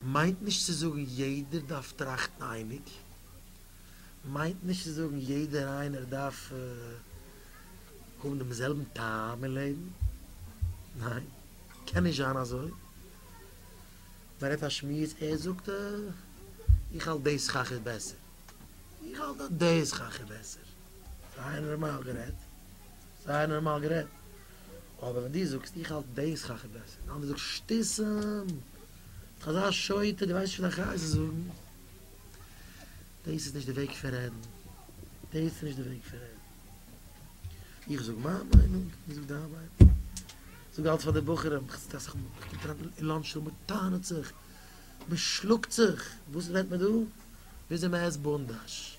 מיינט נישט צו זאגן יעדער דארף טראכטן אייניג, מיינט נישט צו זאגן יעדער איינער דארף האבן דעם זעלבן טעם אין לעבן, ניין קען נישט זיין אזוי, מען רעדט א שמועס ער זאגט איך האלט דעיס כאך איז בעסער, איך האלט אז דעיס כאך איז בעסער, ריין נארמאל גערעדט. זייער נארמאל גערעדט. אבער ווען דו זאגסט איך האלט דעיס חכם בעסער און די אנדערע זאגט שטיסעם, ביסט אזא שוטה דו ווייסט נישט וואס דיין חיות איז זאגן. דעיס איז נישט די וועג פון רעדן. דעיס איז נישט די וועג פון רעדן. איך זאג מיין מיינונג, דו זאגסט דיין מיינונג. זאג אלץ פאר די בחורים, איך זיץ אסאך מאל, איך קום אריין אין לאנטש רום מען טענה'ט זיך, מען שלאגט זיך, וואס רעדט מען דא? וויאזוי מען עסט בונדאש.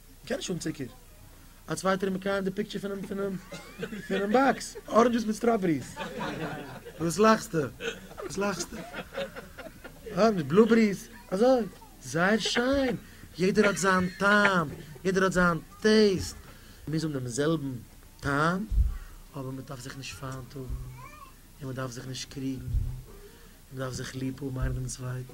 קען נישט האבן צוקער. א צווייטער איז מקיים די פיקטשער פונעם פונעם פונעם באקס. אראנדזשעס מיט סטראבעריס. וואס לאכסטע? וואס לאכסטע? אה, מיט בלובעריס. אזוי. זייער שיין. יעדער האט זיין טעם. יעדער האט זיין טעיסט. מוז האבן דעם זעלבן טעם. אבער מען דארף זיך נישט פיינט האבן. און מען דארף זיך נישט קריגן. מען דארף זיך ליב האבן איינער דעם צווייטן.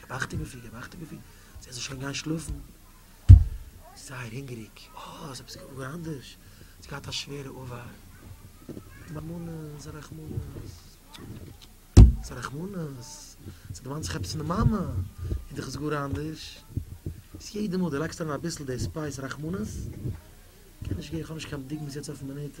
געבאכט איבער פיר, געבאכט איבער פיר, זי האט זיך שוין גיין שלאפן, זייער הונגעריג, אה, ס'איז עפעס גאר אנדערש, ס'איז געהאט א שווערע ארבייט, מאמענעס, א רחמנות, ס'איז א רחמנות, ס'דערמאנט זיך עפעס פון די מאמע, און דאך איז גאר אנדערש, איז יעדע מאל דו לייגסט אריין אביסל די ספייס רחמנות, קען נישט גיין, כ'האב נישט קיין בדיקות יעצט אויפן מינוט,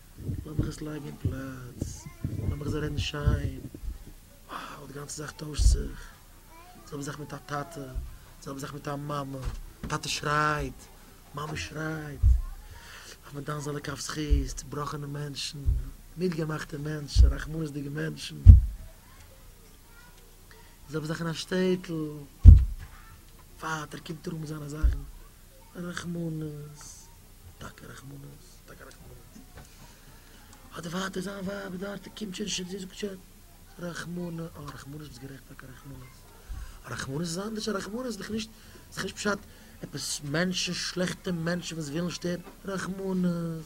לאמיך עס לייגן אין פלאץ, לאמיך זיי רעדן שיין, wow די גאנצע זאך טוישט זיך, די זעלבע זאך מיט א טאטע, די זעלבע זאך מיט א מאמע, טאטע שרייט, מאמע שרייט, אויף מיט דיין זעלע כף זכות, צובראכענע מענטשן, מיד געמאכטע מענטשן, רחמנות'דיגע מענטשן, די זעלבע זאך אין א שטעטל, פאט ער קומט אראפ מיט זיינע זאכן, רחמנות, טאקע רחמנות. האט די פאטער זיין ווייב דארט קומט שוין נישט זי זאגט שוין רחמנא אה רחמנות ביסט גערעכט טאקע רחמנות רחמנות איז אנדערש רחמנות איז דאך נישט איז דאך נישט פשט עפעס מענטשן שלעכטע מענטשן וואס ווילן שטערן רחמנות.